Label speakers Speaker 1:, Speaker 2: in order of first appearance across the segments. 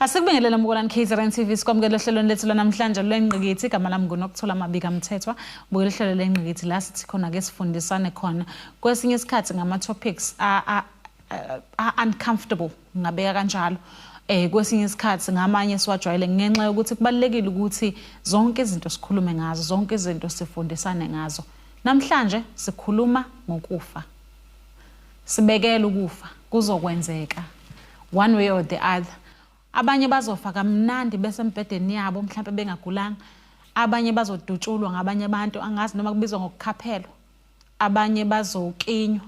Speaker 1: Asikubingelele mbukelani KZN TV sikwamukele ohlelweni lethu lanamhlanje lwengqikithi igama lami ngunokuthola amabika mthethwa bukela uhlelo lengqikithi la sithi khona ke sifundisane khona kwesinye isikhathi ngama topics a uncomfortable ngabeka kanjalo eh kwesinye isikhathi ngamanye siwajwayele ngenxa yokuthi kubalekile ukuthi zonke izinto sikhulume ngazo zonke izinto sifundisane ngazo namhlanje sikhuluma ngokufa Sibekele ukufa kuzokwenzeka one way or the other. Abanye bazofa kamnandi bese embhedeni yabo mhlawumbe bengagulanga. Abanye bazodutshulwa ngabanye abantu angazi noma kubizwa ngokukhaphelwa. Abanye bazokinywa.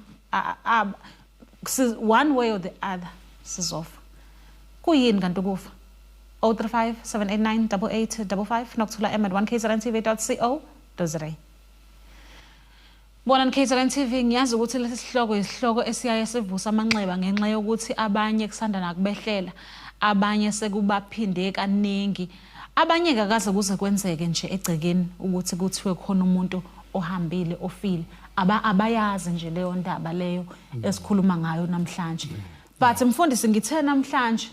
Speaker 1: One way or the other sizofa. Kuyini kanti ukufa? 035 789 8855 nokuthola em at 1kzrntv.co.za. Bonani KZN TV ngiyazi ukuthi lesi sihloko isihloko esiyaye sivusa amanxeba ngenxa yokuthi abanye kusanda nakubehlela abanye sekubaphinde kaningi abanye kakaze kuze kwenzeke nje egcekeni ukuthi kuthiwe khona umuntu ohambile ofile aba abayazi nje leyo ndaba leyo esikhuluma ngayo namhlanje but mfundisi ngithe namhlanje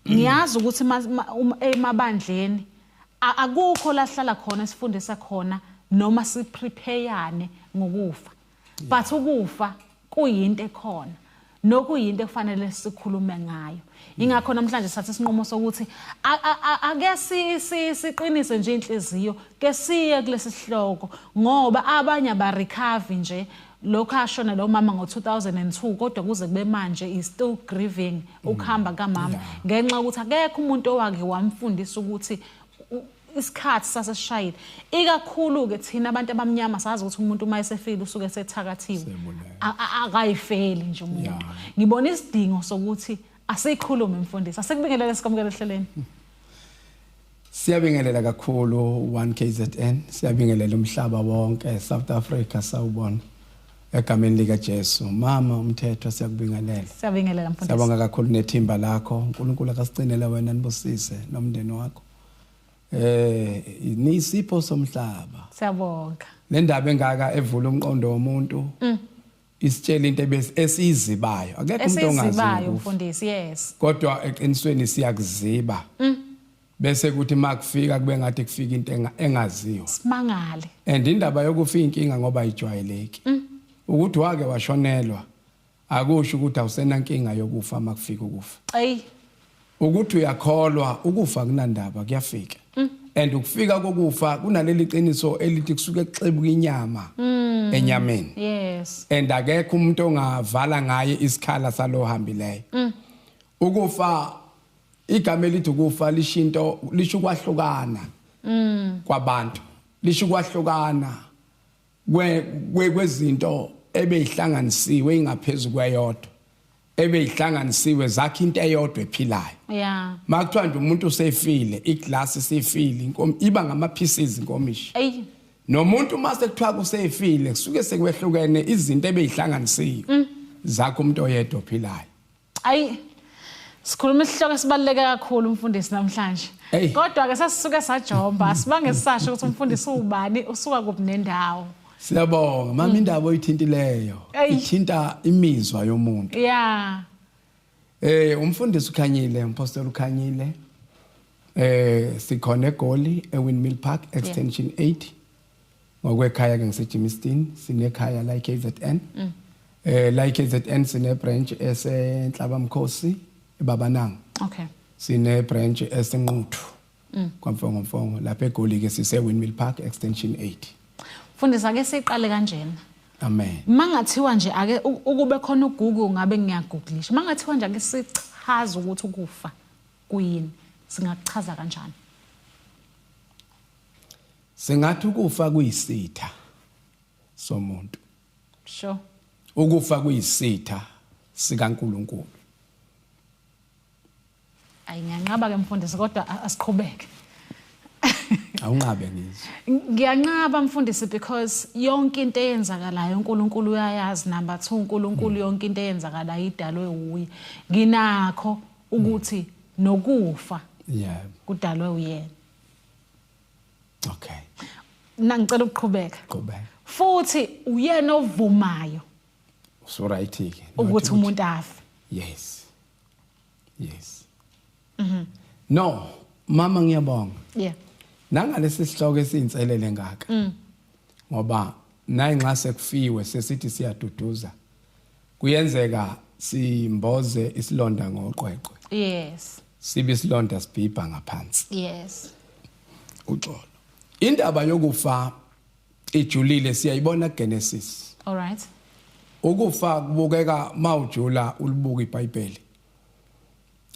Speaker 1: ngiyazi ukuthi emabandleni akukho lahlala khona esifundisa khona noma siprepayane ngokufa but ukufa kuyinto ekhona nokuyinto ekufanele sikhulume ngayo ingakho namhlanje sathi isinqumo sokuthi ake siqinise nje inhliziyo ke siye kulesi sihloko ngoba abanye abarecover nje lokho ashona lo mama ngo-2002 kodwa kuze kube manje is still grieving mm. ukuhamba kamama ngenxa yokuthi akekho umuntu owake wamfundisa ukuthi isikhathi sasesishayile ikakhulu-ke thina abantu abamnyama sazi ukuthi umuntu uma esefile usuke esethakathiwe akayifeli nje umuntu ngibona isidingo sokuthi asiyikhulume mfundisi asikubingelele sikwamukele ehleleni
Speaker 2: Siyabingelela kakhulu 1KZN, siyabingelela umhlaba wonke, South Africa sawubona. Egameni lika Jesu, mama umthetho siyakubingelela. Siyabingelela mfundisi. Siyabonga
Speaker 1: kakhulu nethimba
Speaker 2: lakho. uNkulunkulu akasigcinele wena nibusise nomndeni wakho. Eh, nisipho somhlaba. Siyabonga.
Speaker 1: Nendaba engaka
Speaker 2: evula umqondo womuntu. Mm. isitshela into ebes- esiyizibayo akekho umuntu ongazi esizibayo ngokufa. mfundisi yes
Speaker 1: kodwa eqinisweni
Speaker 2: siyakuziba bese kuthi makufika kube ngathi kufika into enga- engaziwa simangale
Speaker 1: and indaba
Speaker 2: yokufa inkinga ngoba ayijwayeleki ukuthi wake washonelwa akusho ukuthi awusenankinga yokufa makufika ukufa eyi Ukuthi uyakholwa ukufa kunandaba kuyafika. Mm. And ukufika kokufa kunaleli qiniso elithi kusuke kuxebuka inyama mm. enyameni. Yes. And
Speaker 1: akekho umuntu
Speaker 2: ongavala ngaye isikhala salohambileyo. Mm. Ukufa igama elithi ukufa lishinto lisho kwahlukana. Mm. Kwabantu. Lisho kwahlukana. kwezinto ebeyihlanganisiwe ingaphezulu kweyodwa ebeyihlanganisiwe zakhe into eyodwa ephilayo yeah makuthiwa
Speaker 1: nje umuntu
Speaker 2: usefile iglass isifile inkomo iba ngama pieces inkomishi eyi nomuntu uma sekuthiwa kusefile kusuke sekwehlukene izinto ebeyihlanganisiwe mm. zakho umuntu oyedwa ophilayo ayi
Speaker 1: sikhuluma isihloko esibaluleke kakhulu umfundisi namhlanje kodwa ke sasisuke sajomba sibange sisasho ukuthi umfundisi ubani usuka kuphi nendawo siyabonga mama
Speaker 2: mm. indaba oyithintileyo ithinta imizwa yomuntu yeah
Speaker 1: eh
Speaker 2: umfundisi ukhanyile umpostoli ukhanyile eh sikhona egoli ewindmill park extension 8 ngokwekhaya ke ngiseGimiston sinekhaya la eKZN mm. eh la eKZN sine branch esenhlaba mkhosi ebabananga okay
Speaker 1: sine branch
Speaker 2: esenquthu mm. kwamfongo mfongo lapha egoli ke sise Windmill Park extension 8 fundisa ke
Speaker 1: siqale kanjena amen
Speaker 2: mangathiwa nje
Speaker 1: ake ukube khona uGoogle ngabe ngiyagooglisha mangathiwa nje ake sichaza ukuthi ukufa kuyini singakuchaza kanjani
Speaker 2: Sengathi ukufa kuyisitha somuntu. Sure.
Speaker 1: Ukufa
Speaker 2: kuyisitha sikaNkuluNkulu.
Speaker 1: Ayi ngiyanqaba ke mfundisi kodwa asiqhubeke.
Speaker 2: Awunqabe ngizwe. Ngiyanqaba
Speaker 1: mfundisi because yonke into eyenzakalayo uNkulunkulu uyayazi number 2 uNkulunkulu hmm. yonke into eyenzakalayo idalwe uye. Nginakho ukuthi nokufa. Yeah.
Speaker 2: Kudalwe uyena. okay mina ngicela
Speaker 1: ukuqhubeka qhubeka futhi uyena ovumayo so
Speaker 2: right ke ukuthi umuntu afe
Speaker 1: yes
Speaker 2: yes
Speaker 1: mhm
Speaker 2: no mama ngiyabonga yeah
Speaker 1: nangalesi
Speaker 2: sihloko esinselele ngaka mm. ngoba nayi nxa sekufiwe sesithi siyaduduza kuyenzeka simboze isilonda ngoqweqwe yes
Speaker 1: sibe isilonda
Speaker 2: sibhibha ngaphansi yes uxolo indaba yokufa ijulile siyayibona Genesis all right
Speaker 1: ukufa
Speaker 2: kubukeka mawujula ulibuka iBhayibheli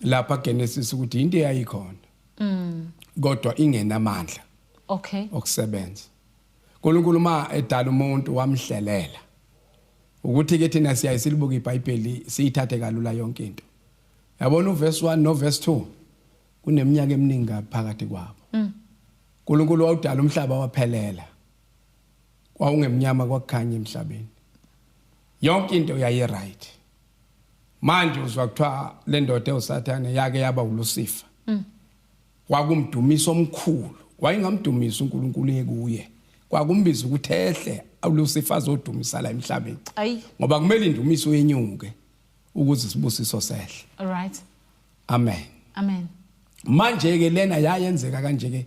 Speaker 2: lapha Genesis ukuthi into eyayikhona mm kodwa ingenamandla okay
Speaker 1: okusebenza
Speaker 2: uNkulunkulu ma edala umuntu wamhlelela ukuthi ke thina siyaye silibuke iBhayibheli siyithathe kalula yonke into yabona uverse 1 noverse 2 kuneminyaka eminingi ngaphakathi kwabo mm. uNkulunkulu wawudala umhlaba waphelela kwawungemnyama kwakukhanya emhlabeni yonke into yayi right manje uzwa kuthiwa le ndoda ewusathane yake yaba ulusifa mm. Kwakumdumiso omkhulu. Wayengamdumisa uNkulunkulu ekuye. Kwakumbiza ukuthi ehle uLucifer azodumisa la emhlabeni. Ayi. Ngoba kumele indumiso yenyuke ukuze isibusiso sehle. All right.
Speaker 1: Amen.
Speaker 2: Amen.
Speaker 1: Manje ke
Speaker 2: lena yayenzeka kanje ke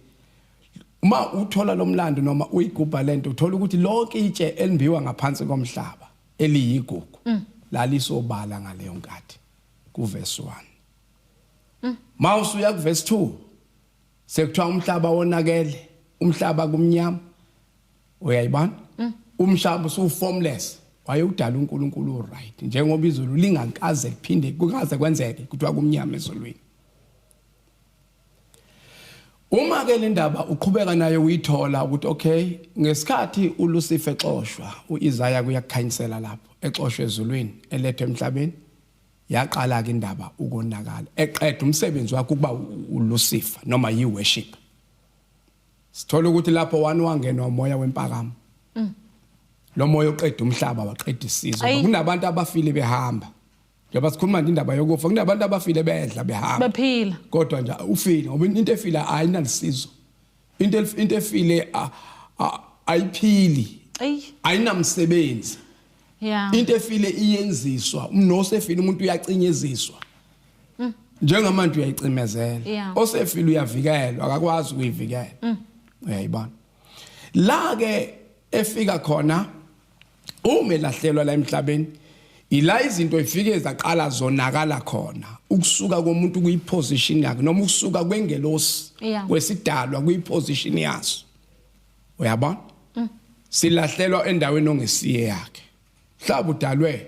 Speaker 2: uma uthola lomlando noma uyigubha lento uthola ukuthi lonke itshe elimbiwa ngaphansi komhlaba eliyigugu mm. lalisobala ngaleyo nkathi kuverse 1 Mawusu uya kuverse 2 sekuthiwa umhlaba wonakele umhlaba kumnyama uyayibona mm. umhlaba usu formless wayewudala uNkulunkulu right njengoba izulu lingakaze liphinde kukaze kwenzeke kuthiwa kumnyama ezulwini Uma ke le ndaba uqhubeka naye uyithola ukuthi okay ngesikhathi uLucifer xoshwa uIsaya kuyakukhanyisela lapho exoshwe ezulwini elethwe emhlabeni yaqala-ke indaba ukonakala eqeda umsebenzi wakhe ukuba ulusifa noma yi-worship sithola ukuthi lapho wani wangenwa umoya wempakamo mm. lo moya oqeda umhlaba waqeda isizwe kunabantu abafile behamba njengoba sikhuluma nje indaba yokufa kunabantu abafile bedla behamba baphila kodwa nje
Speaker 1: ufile
Speaker 2: ngoba into efila ayinalisizo into into efile ayiphili ayinamsebenzi yeah
Speaker 1: into efile
Speaker 2: iyenziswa umnose efile umuntu uyacinyeziswa mm. njengamanje uyayicimezela osefile uyavikelwa akakwazi ukuyivikela mm. uyayibona la ke efika khona uma elahlelwa la emhlabeni ila izinto ifike zaqala zonakala khona ukusuka komuntu kuyiposition yakhe noma ukusuka kwengelosi kwesidalwa kuyiposition yaso uyabona mm. silahlelwa endaweni ongesiye yakhe mhlawumbe udalwe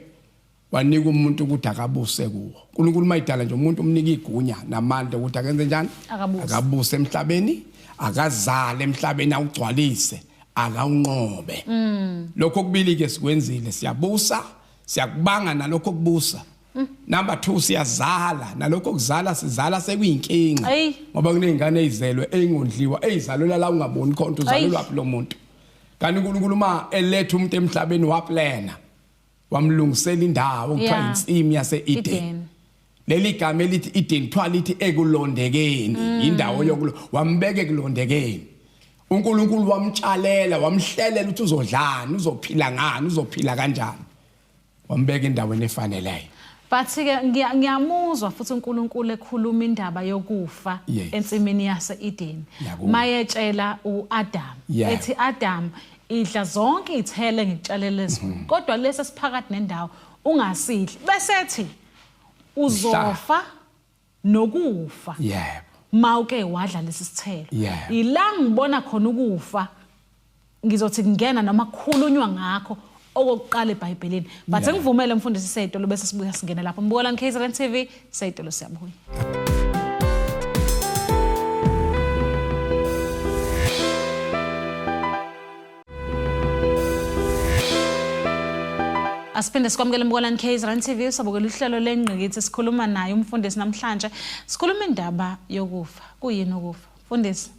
Speaker 2: wanika umuntu ukuthi akabuse kuwo uNkulunkulu mayidala nje umuntu umnika igunya namandla ukuthi akenze njani akabuse emhlabeni akazale emhlabeni awugcwalise akawunqobe mm. lokho kubili ke sikwenzile siyabusa siyakubanga nalokho kubusa mm. number 2 siyazala nalokho kuzala sizala sekuyinkinga ngoba kunezingane ezizelwe ezingondliwa ezizalwela la ungaboni khona uzalelwa phi lo muntu kanti uNkulunkulu uma eletha umuntu emhlabeni waplana wamlungisela indawo kuthiwa Yeah. insimu yase-eden Eden. leli gama elithi eden kuthiwa lithi ekulondekeni Mm. yindawo yokulo wambeka ekulondekeni unkulunkulu wamtshalela wamhlelela ukuthi uzodlani uzophila ngani uzophila kanjani wambeka endaweni efaneleyo but ke
Speaker 1: ngiya- ngiyamuzwa futhi uNkulunkulu ekhuluma indaba yokufa Yes. ensimini yase-Eden Ngiyakuzwa. mayetshela uAdam Yeah. ethi Adam idla zonke iy'thelo engikutshalele lezulu mhm. kodwa lesi esiphakathi nendawo ungasidli besethi uzofa nokufa yebo
Speaker 2: mawuke wadla
Speaker 1: lesi sithelo yila ngibona khona ukufa ngizothi kungena noma kukhulunywa ngakho okokuqala ebhayibhelini but ngivumele mfundisi setolo bese sibuya singena lapho mbukolani kzn tv Sayitolo siyabuya. Asiphinde sikwamukele Mbukalani Case Rand TV sabukela uhlelo lengqikithi sikhuluma naye umfundisi namhlanje sikhuluma indaba yokufa kuyini ukufa mfundisi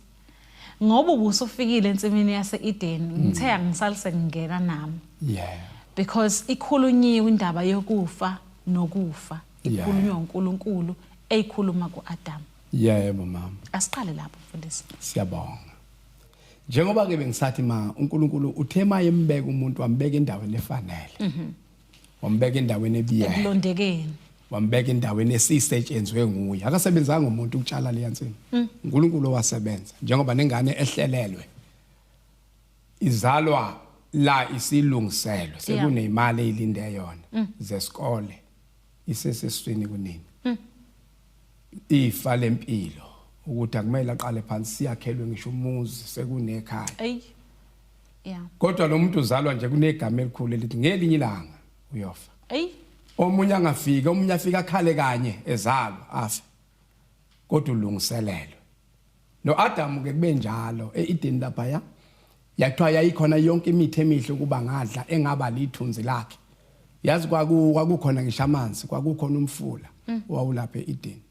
Speaker 1: ngoba ubusufikile ensimini yaseEden hmm. ngithe angisalise ngingena nami yeah because ikhulunyiwe indaba yokufa nokufa ikhulunywa uNkulunkulu eyikhuluma kuAdam yebo mama
Speaker 2: asiqale lapho
Speaker 1: mfundisi siyabonga
Speaker 2: njengoba ke bengisathi ma uNkulunkulu uthe maye embeka umuntu wambeka endaweni efanele
Speaker 1: mhm wambeka
Speaker 2: endaweni ebiyela ekulondekeni wambeka endaweni esisetshenzwe nguye akasebenzanga umuntu ukutshala leya nsini mm. uNkulunkulu owasebenza njengoba nengane ehlelelwe izalwa la isilungiselwe sekunemali eyilinde yona mm. zesikole iseseswini kunini hmm. ifa lempilo ukuthi akumele aqale phansi siyakhelwe ngisho umuzi sekunekhaya eyi yeah kodwa lo muntu uzalwa nje kunegama elikhulu elithi ngelinye ilanga uyofa eyi omunye angafika omunye afika akhale kanye ezalwa afa kodwa ulungiselelwe No-Adamu ke kube njalo e-Edeni laphaya yathiwa yayikhona yonke imithi emihle ukuba ngadla engaba lithunzi lakhe yazi kwakukhona ngisho amanzi kwakukhona umfula mm. wawulapha e-Edeni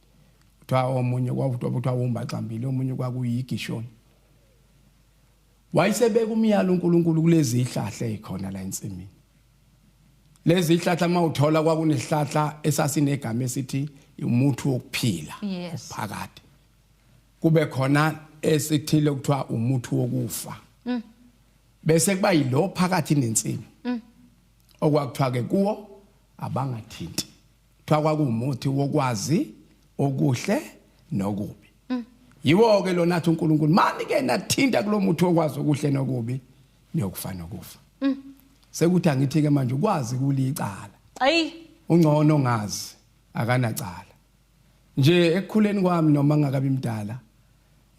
Speaker 2: kuthiwa omunye kwakuthiwa wumbaxambili omunye kwakuyigishoni wayesebeka umyalo uNkulunkulu kulezi ihlahla ezikhona la ensimini lezi ihlahla mawuthola kwakunesihlahla esasinegama esithi umuthi wokuphila phakade kube khona esithile kuthiwa umuthi wokufa mm. bese kuba yilo phakathi nensimu mm. okwakuthiwa ke kuwo abangathinti kuthiwa kwakuwumuthi wokwazi okuhle nokubi mm. yiwo ke lona athi uNkulunkulu mani ke nathinta kulomuthi okwazi okuhle nokubi niyokufa nokufa mm. sekuthi angithi ke manje ukwazi kulicala ayi ungcono ngazi akanacala Nje ekukhuleni kwami noma ngakabi mdala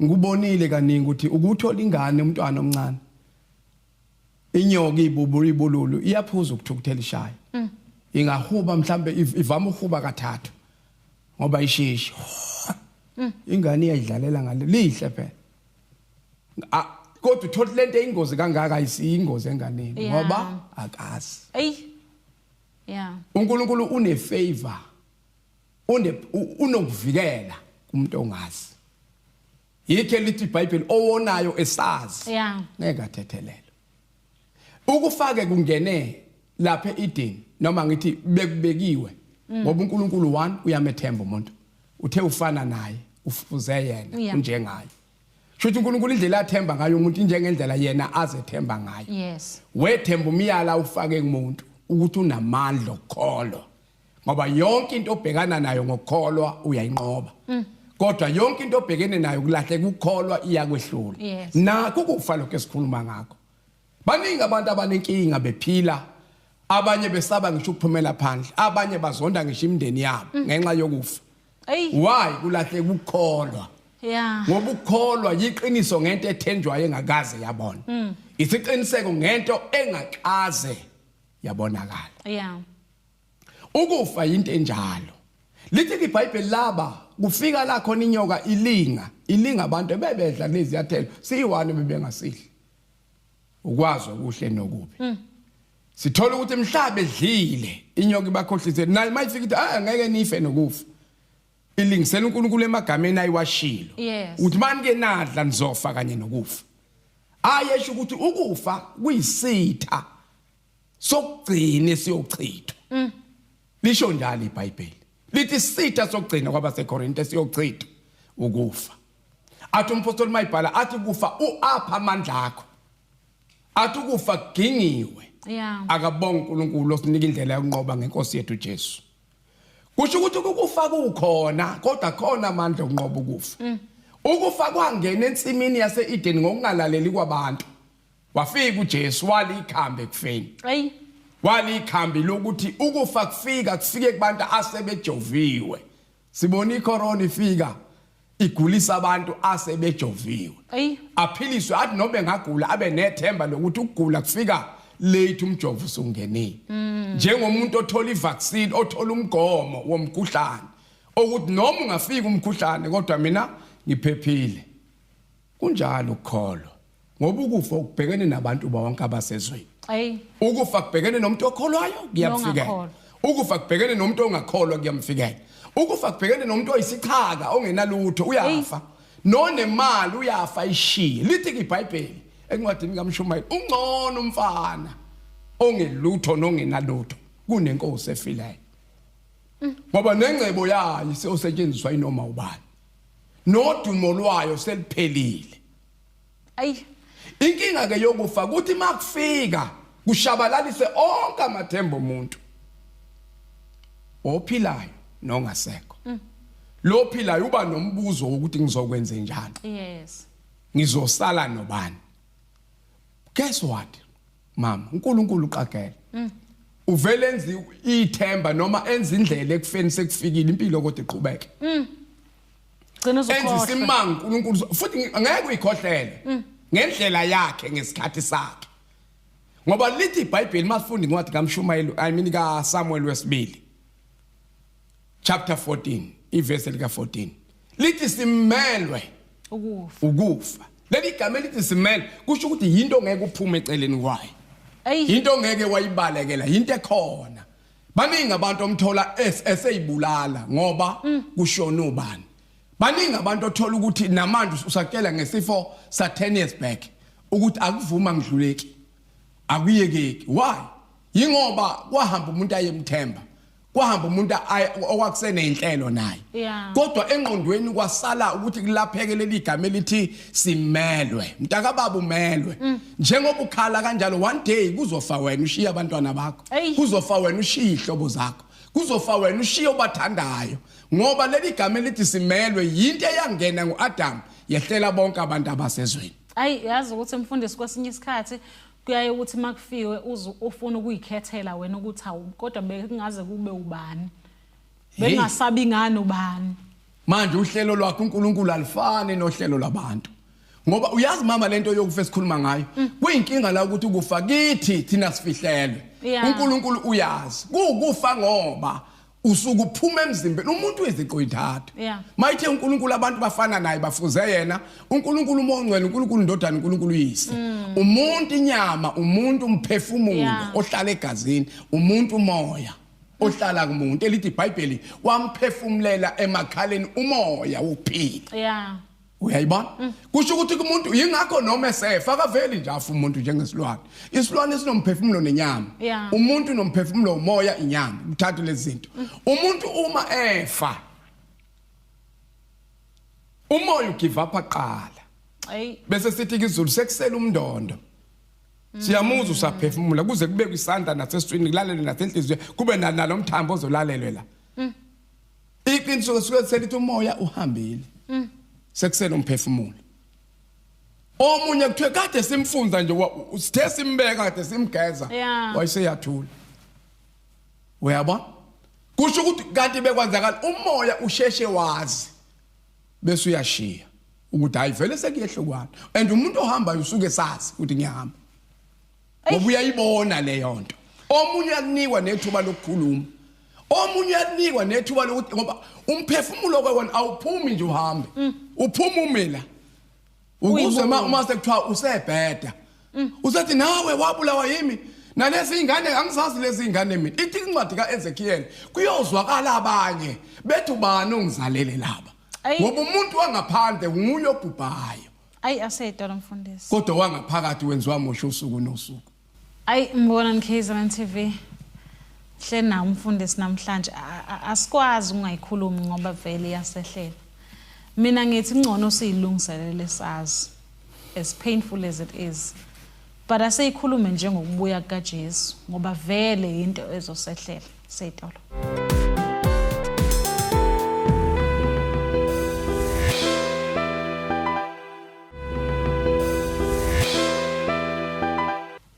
Speaker 2: ngikubonile kaningi ukuthi ukuthola ingane umntwana omncane inyoka ibubu ibululu iyaphuza ukuthukuthela ishaye mm. ingahuba mhlambe ivama uhuba kathathu ngoba ishishi mm. ingane iyayidlalela ngale lihle phela kodwa uthola lento eyingozi kangaka ayisiyingozi enganeni ngoba akazi eyi yeah uNkulunkulu une favor une unokuvikela umuntu ongazi yikho elithi iBhayibheli owonayo esazi yeah. ngeke athethelele ukufake kungene lapha eEden noma ngithi bekubekiwe mm. ngoba uNkulunkulu one uyamethemba umuntu uthe ufana naye ufuze yena yeah. unjengaye Shuthi uNkulunkulu indlela athemba ngayo umuntu injengendlela yena azethemba ngayo. Yes. Wethemba umyala ufake kumuntu ukuthi unamandla okukholwa. ngoba yonke into obhekana nayo ngokukholwa uyayinqoba mm. kodwa yonke into obhekene nayo kulahle kukholwa iyakwehlula yes. nakho kufa lokho esikhuluma ngakho baningi abantu abanenkinga bephila abanye besaba ngisho ukuphumela phandle abanye bazonda ngisho imindeni yabo mm. ngenxa yokufa why kulahle kukholwa yeah ngoba ukukholwa yiqiniso ngento ethenjwayo engakaze yabona mm. isiqiniseko ngento engakaze yabonakala yeah Ukufa yinto enjalo. Lithi ke iBhayibheli laba kufika la khona inyoka ilinga, ilinga abantu ebebedla kulezi yathelo, siyiwani bebengasidli. Ukwazi okuhle nokubi. Mm. Sithola ukuthi mhlawumbe edlile inyoka ibakhohlise naye mayifika ithi ah ngeke nife nokufa. Ilingisela uNkulunkulu emagameni ayiwashilo. Uthi mani ke nadla nizofa kanye nokufa. Ayesho ukuthi ukufa kuyisitha sokugcina esiyochithwa mm. lisho njalo iBhayibheli lithi sitha sokugcina kwabaseKorinte siyochithwa ukufa athi umpostoli mayibhala athi kufa uapha amandla akho athi ukufa kugingiwe yeah. akabonga uNkulunkulu osinika indlela yokunqoba ngenkosi yethu Jesu kusho ukuthi ukufa kukhona kodwa khona amandla okunqoba ukufa mm. ukufa kwangena ensimini yaseEden ngokungalaleli kwabantu wafika uJesu walikhambe ekufeni ayi walikhambi lokuthi ukufa kufika kufike kubantu asebejoviwe sibona icorona ifika igulisa abantu asebejoviwe aphiliswe athi nobe ngagula abe nethemba lokuthi ukugula kufika late umjovo usungenile mm. njengomuntu othola ivaccine othola umgomo womkhuhlane ukuthi noma ungafika umkhuhlane kodwa mina ngiphephile kunjalo ukukholwa ngoba ukufa ukubhekene nabantu bonke abasezweni Ayi. ukufa kubhekene nomuntu okholwayo kuyamfikela Nongakholwa. ukufa kubhekene nomuntu ongakholwa kuyamfikela ukufa kubhekene nomuntu oyisichaka ongenalutho uyafa nonemali uyafa ishiye lithi ibhayibheli encwadini kamshumayeli ungcono umfana ongelutho nongenalutho kunenkosi efileyo ngoba nengcebo yayo iseyosetshenziswa inoma ubani nodumo lwayo seliphelile ayi inkinga ke yokufa ukuthi makufika kushabalalise onke amathemba omuntu ophilayo nongasekho mm. lo philayo uba nombuzo wokuthi ngizokwenze njani yes
Speaker 1: ngizosala
Speaker 2: nobani guess what mama uNkulunkulu uqagela mm. uvele enzi ithemba noma enza indlela ekufeni sekufikile impilo kodwa iqhubeke mm.
Speaker 1: Gcina enzisa uzokhohlwa. imanga uNkulunkulu
Speaker 2: uzo- futhi ngi- ngeke uyikhohlele ngendlela yakhe ngesikhathi sakhe ngoba lithi iBhayibheli masifundi incwadi kaMshumayeli I mean kaSamuel wesibili chapter 14 iverse lika 14 lithi simelwe Ukufa. ukufa leli gama elithi simelwe kusho ukuthi yinto ngeke uphume eceleni kwayo Ayi. yinto ngeke wayibalekela yinto ekhona Baningi abantu omthola eseyibulala ngoba mm. kushona ubani. Baningi abantu othola ukuthi namanje usatshela ngesifo sa 10 years back ukuthi akuvuma ngidluleki. Akuyekeki. Why? Yingoba kwahamba umuntu ayemthemba. kwahamba umuntu okwakusene inhlelo naye kodwa engqondweni kwasala ukuthi kulapheke leli igama elithi simelwe mntakababa umelwe mm. njengoba ukhala kanjalo one day kuzofa wena ushiye abantwana bakho kuzofa wena ushiye ihlobo zakho kuzofa wena ushiye obathandayo ngoba leli gama elithi simelwe yinto eyangena nguAdam yehlela bonke abantu abasezweni ayi yazi ukuthi
Speaker 1: mfundisi kwesinye isikhathi kuyaye ukuthi makufiwe ufuna ukuyikhethela wena ukuthi awu kodwa bekungaze kube ubani bengasabi ngani ubani Manje uhlelo
Speaker 2: lwakhe uNkulunkulu alifani nohlelo labantu. Ngoba uyazi mama lento yokufa esikhuluma ngayo mm. kuyinkinga la ukuthi ukufa kithi thina sifihlelwe. uNkulunkulu uyazi kuwukufa ngoba usuke uphuma emzimbeni umuntu weziqo intathu mayithe uNkulunkulu abantu bafana naye bafuze yena uNkulunkulu umongcwele uNkulunkulu indodana uNkulunkulu uyise mm. umuntu inyama umuntu umphefumulo ohlala egazini umuntu umoya ohlala kumuntu elithi iBhayibheli wamphefumulela emakhaleni umoya wokuphila yeah uyayibona mm. kusho ukuthi kumuntu yingakho noma esefa akaveli nje afa umuntu njengesilwane isilwane sinomphefumulo nenyama yeah. umuntu nomphefumulo umoya inyama uthathe lezi zinto mm. umuntu uma efa umoya ugive up aqala bese sithi kizulu sekusela umndondo siyamuzwa usaphefumula kuze kube kwisandla naseswini kulalele nasenhliziyo kube nalo mthambo ozolalelwe la mm. iqiniso suke selithi umoya uhambile mm. sekusele umphefumulo omunye kuthiwe kade simfunza nje sithe simbeka kade simgeza wayeseyathula uyabona kusho ukuthi kanti bekwenzakala umoya usheshe wazi bese uyashiya ukuthi hayi vele sekuyehlukwani and umuntu ohambayo usuke sazi ukuthi ngiyahamba ngoba uyayibona leyo nto omunye uyakunikwa nethuba lokukhuluma omunye uyakunikwa nethuba lokuthi ngoba umphefumulo kwewona awuphumi nje uhambe mm. uphuma umela Ukuzwe ma uma sekuthiwa usebheda. Mm. Usethi nawe wabulawa yimi nalezi ingane angisazi lezi ingane mina ithi incwadi kaEzekiel kuyozwakala abanye bethi ubani ongizalele laba ngoba umuntu wangaphandle nguye obhubhayo ayi aseyitolo
Speaker 1: mfundisi kodwa wangaphakathi
Speaker 2: wenziwa mosho usuku nosuku Ayi mbonani
Speaker 1: KZN TV. Hle na umfundisi namhlanje asikwazi ungayikhulumi ngoba vele iyasehlela. Mina ngithi ngcono siyilungiselele sazi as painful as it is. But asiyikhulume njengokubuya kukaJesu ngoba vele into ezosehlela. setolo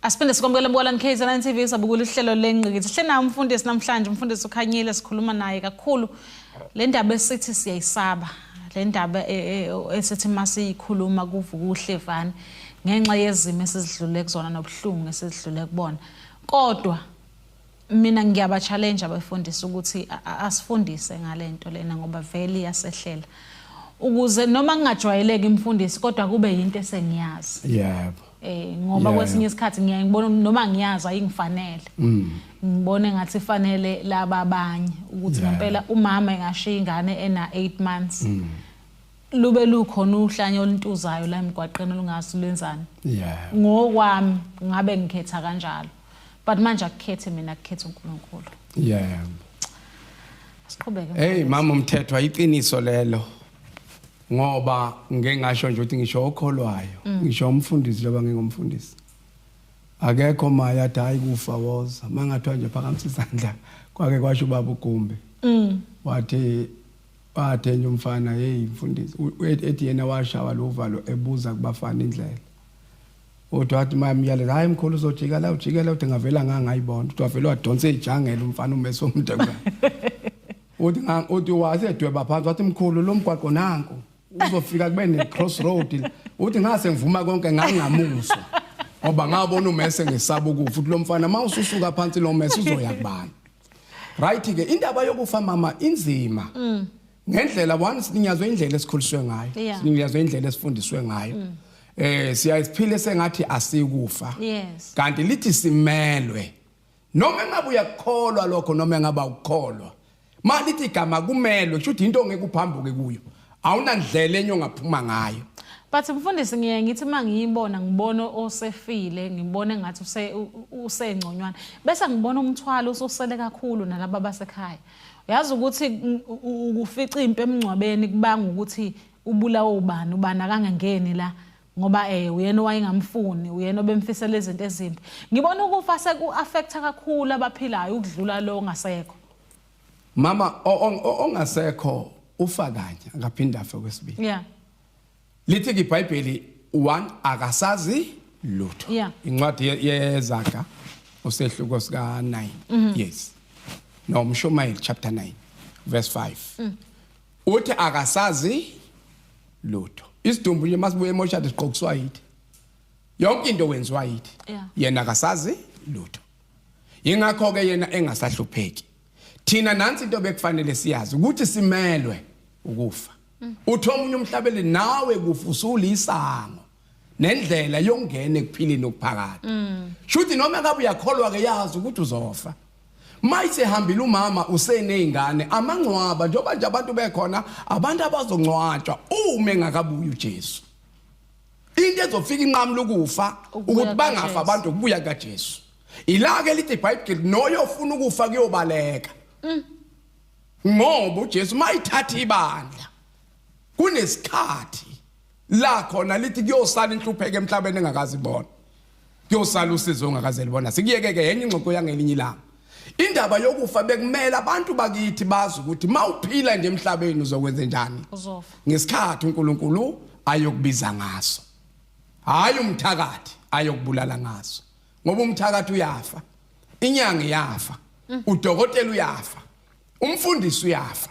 Speaker 1: Asiphinde sikwamukele Mbukalani KZN TV sabukula uhlelo lengqikithi. Sihle nawo umfundisi namhlanje, umfundisi ukhanyile sikhuluma naye kakhulu. Le ndaba esithi siyayisaba, le ndaba e, e, esithi masiyikhuluma kuvuka uhlevani ngenxa yezimo esizidlule kuzona nobuhlungu esizidlule kubona. Kodwa mina ngiyaba challenge abefundisi ukuthi asifundise ngalento lena ngoba vele yasehlela ukuze noma ngingajwayeleki imfundisi kodwa kube yinto esengiyazi yebo eh
Speaker 2: ngoba kwesinye
Speaker 1: isikhathi ngiyaye ngibona noma ngiyazi ayingifanele mm. ngibone ngathi ifanele laba abanye ukuthi ngempela umama engashiya ingane ena 8 months mm. lube lukhona uhlanya oluntuzayo la emgwaqeni olungazi lwenzani ngokwami ngabe ngikhetha kanjalo but manje akukhethi mina kukhetha uNkulunkulu yeah siqhubeke hey mama umthetho
Speaker 2: ayiqiniso lelo ngoba ngeke ngasho nje ukuthi ngisho okholwayo mm. ngisho umfundisi loba ngingumfundisi akekho maye athi hayi kufa woza mangathiwa nje phakamisa isandla kwake kwasho ubaba ugumbi mm. wathi wathenye umfana hey mfundisi ethi yena washawa lo valo ebuza kubafana indlela uthi wathi uma emyaleza hayi mkhulu uzojika la ujike la uthi ngavela ngangayibona uthi wavele wadonsa ijangela umfana umese omdekwa uthi uthi wasedweba phansi wathi mkhulu lo mgwaqo nanku uzofika kube ne crossroad uthi ngase ngivuma konke ngangamuzwa ngoba ngabona umese ngisaba ukufa uthi lo mfana uma ususuka phansi lo mese uzoya kubani right ke indaba yokufa mama inzima mm. ngendlela one sininyazwe indlela esikhuliswe ngayo Yeah. sininyazwe indlela esifundiswe ngayo eh siyaye siphile sengathi asikufa Yes. kanti
Speaker 1: lithi
Speaker 2: simelwe noma engabe uyakukholwa lokho noma engaba ukukholwa ma lithi igama kumelwe kusho ukuthi into ongeke uphambuke kuyo awunandlela enye ongaphuma ngayo But mfundisi
Speaker 1: ngiye ngithi mangiyibona ngibona osefile ngibone ngathi use u- u- usengconywana bese ngibona umthwalo ususele kakhulu nalabo basekhaya. uyazi ukuthi ukufica impi emngcwabeni kubanga ukuthi ubulawa ubani ubani akangangeni la ngoba eh uyena owayengamfuni uyena obemfisela izinto ezimbi ngibona ukufa seku-affecta kakhulu abaphilayo ukudlula lo ongasekho mama
Speaker 2: ongasekho ufa kanye akaphinde afe kwesibili yeah
Speaker 1: Lithi
Speaker 2: ke iBhayibheli one akasazi lutho. Yeah. Incwadi ye- yezaga usehluko sika 9. Yes. No Mshumayeli chapter 9 verse 5. Uthi akasazi lutho. Isidumbu nje masibuye emoshadi siqokuswa yithi. Yonke into wenziwa yithi. Yeah. Yena akasazi lutho. Yingakho ke yena engasahlupheki. thina nansi into bekufanele siyazi ukuthi simelwe ukufa uthi omunye umhlabeli nawe kufusula isango nendlela yokungena ekuphileni okuphakade mm. shuthi noma kabe uyakholwa ke yazi ukuthi uzofa mayise hambile umama usenezingane amangcwaba njengoba nje abantu bekhona abantu abazongcwatshwa uma engakabuyi uJesu into ezofika inqamula ukufa ukuthi bangafa abantu ukubuya kaJesu Ilake lithi iBhayibheli noyo ofuna ukufa kuyobaleka. Mm. Ngoba uJesu mayithatha ibandla kunesikhathi la khona lithi kuyosala inhlupheke emhlabeni engakazi ibona. Kuyosala usizo ongakaze libona. Sikuyeke ke yenye ingxoxo yangelinye ilanga. Indaba yokufa bekumele abantu bakithi bazi ukuthi mawuphila nje emhlabeni uzokwenza njani. Uzofa. Ngesikhathi
Speaker 1: uNkulunkulu
Speaker 2: ayokubiza ngaso. Hayi umthakathi ayokubulala ngaso. ngoba umthakathi uyafa inyanga iyafa mm. udokotela uyafa umfundisi uyafa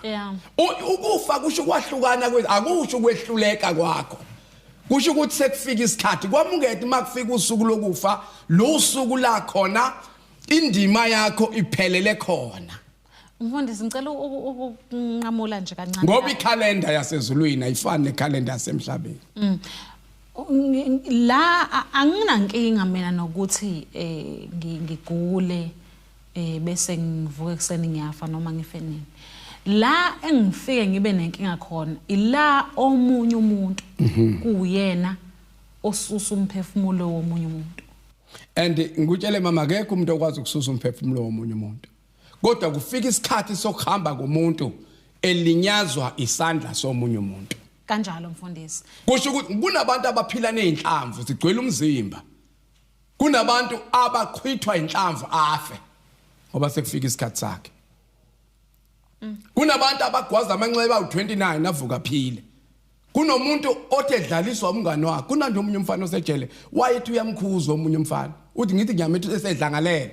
Speaker 2: ukufa kusho ukwahlukana akusho ukwehluleka kwakho kusho ukuthi sekufika isikhathi kwamukete uma kufika usuku lokufa lo usuku la khona indima yakho iphelele khona Mfundisi
Speaker 1: ngicela ukunqamula nje kancane. Ngoba ikhalenda
Speaker 2: yasezulwini ayifani nekhalenda yasemhlabeni. Mm.
Speaker 1: La anginankinga mina nokuthi eh ngigule eh bese ngivuke kuseni ngiyafa noma ngife nini. La engifike ngibe nenkinga khona ila omunye umuntu mhm. kuyena osusa umphefumulo womunye umuntu. And
Speaker 2: ngikutshele mama akekho umuntu okwazi ukususa umphefumulo womunye umuntu. kodwa kufika isikhathi sokuhamba komuntu elinyazwa isandla somunye umuntu kanjalo mfundisi
Speaker 1: kusho ukuthi kunabantu
Speaker 2: abaphila nezinhlamvu zigcwele umzimba kunabantu abaqhwithwa inhlamvu afe ngoba sekufika isikhathi sakhe kunabantu abagwaza amanxeba u29 avuka phile kunomuntu othi edlaliswa umngane wakhe kunanje omunye umfana osejele wayethi uyamkhuza omunye umfana uthi ngithi ngiyamethi esedlangalele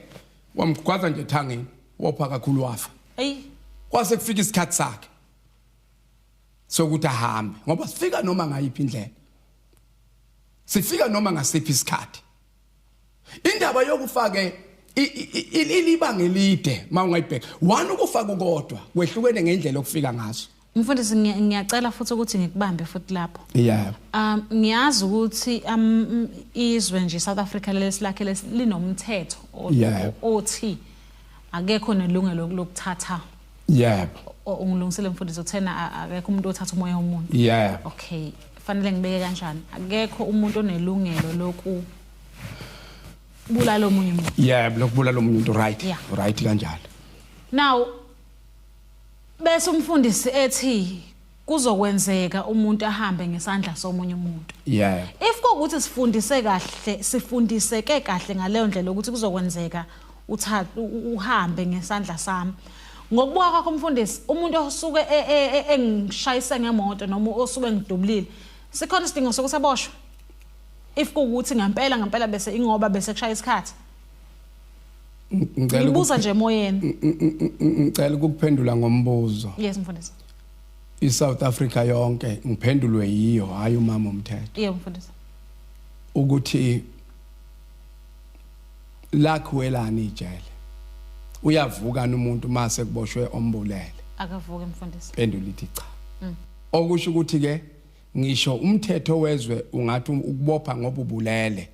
Speaker 2: wamgwaza nje ethangeni wopha kakhulu wafa eyi kwase kufika isikhathi sakhe sokuthi ahambe ngoba sifika noma ngayiphi indlela sifika noma ngasiphi isikhathi indaba yokufake ilibanga elide mawungayibheka one ukufaka ukodwa kwehlukene ngendlela okufika ngaso Mfundisi
Speaker 1: ngiyacela futhi ukuthi ngikubambe futhi lapho. Yeah. Um ngiyazi ukuthi um izwe nje South Africa lesilakhe linomthetho othi akekho nelungelo lokuthatha. Yeah. Ungilungisele mfundisi uthena akekho umuntu othatha umoya womuntu. Yeah. Okay. Fanele ngibeke kanjani? Akekho umuntu onelungelo loku bulala omunye umuntu. Yeah, lokubulala omunye umuntu
Speaker 2: right. Right kanjalo. Now
Speaker 1: Bese umfundisi ethi kuzokwenzeka umuntu ahambe ngesandla somunye umuntu yeah if kokuthi sifundise kahle sifundiseke kahle ngaleyo ndlela ukuthi kuzokwenzeka uthatha uhambe ngesandla sami ngokubuka kwakho mfundisi umuntu osuke e, e, e, engishayise ngemoto noma osuke ngidubulile sikhona isidingo sokuthi aboshwe if kuwukuthi ngempela ngempela bese ingoba bese kushaya isikhathi ngicela ukubuza nje emoyeni ngicela
Speaker 2: ukuphendula ngombuzo yes
Speaker 1: mfundisi iSouth
Speaker 2: Africa yonke ngiphendulwe yiyo hayi umama umthetho yebo mfundisi
Speaker 1: ukuthi
Speaker 2: lakhuwelani ijele uyavuka umuntu mase kuboshwe ombulele akavuke mfundisi
Speaker 1: pendula ithi cha mm.
Speaker 2: okusho ukuthi ke ngisho umthetho wezwe ungathi ukubopha ngoba ubulele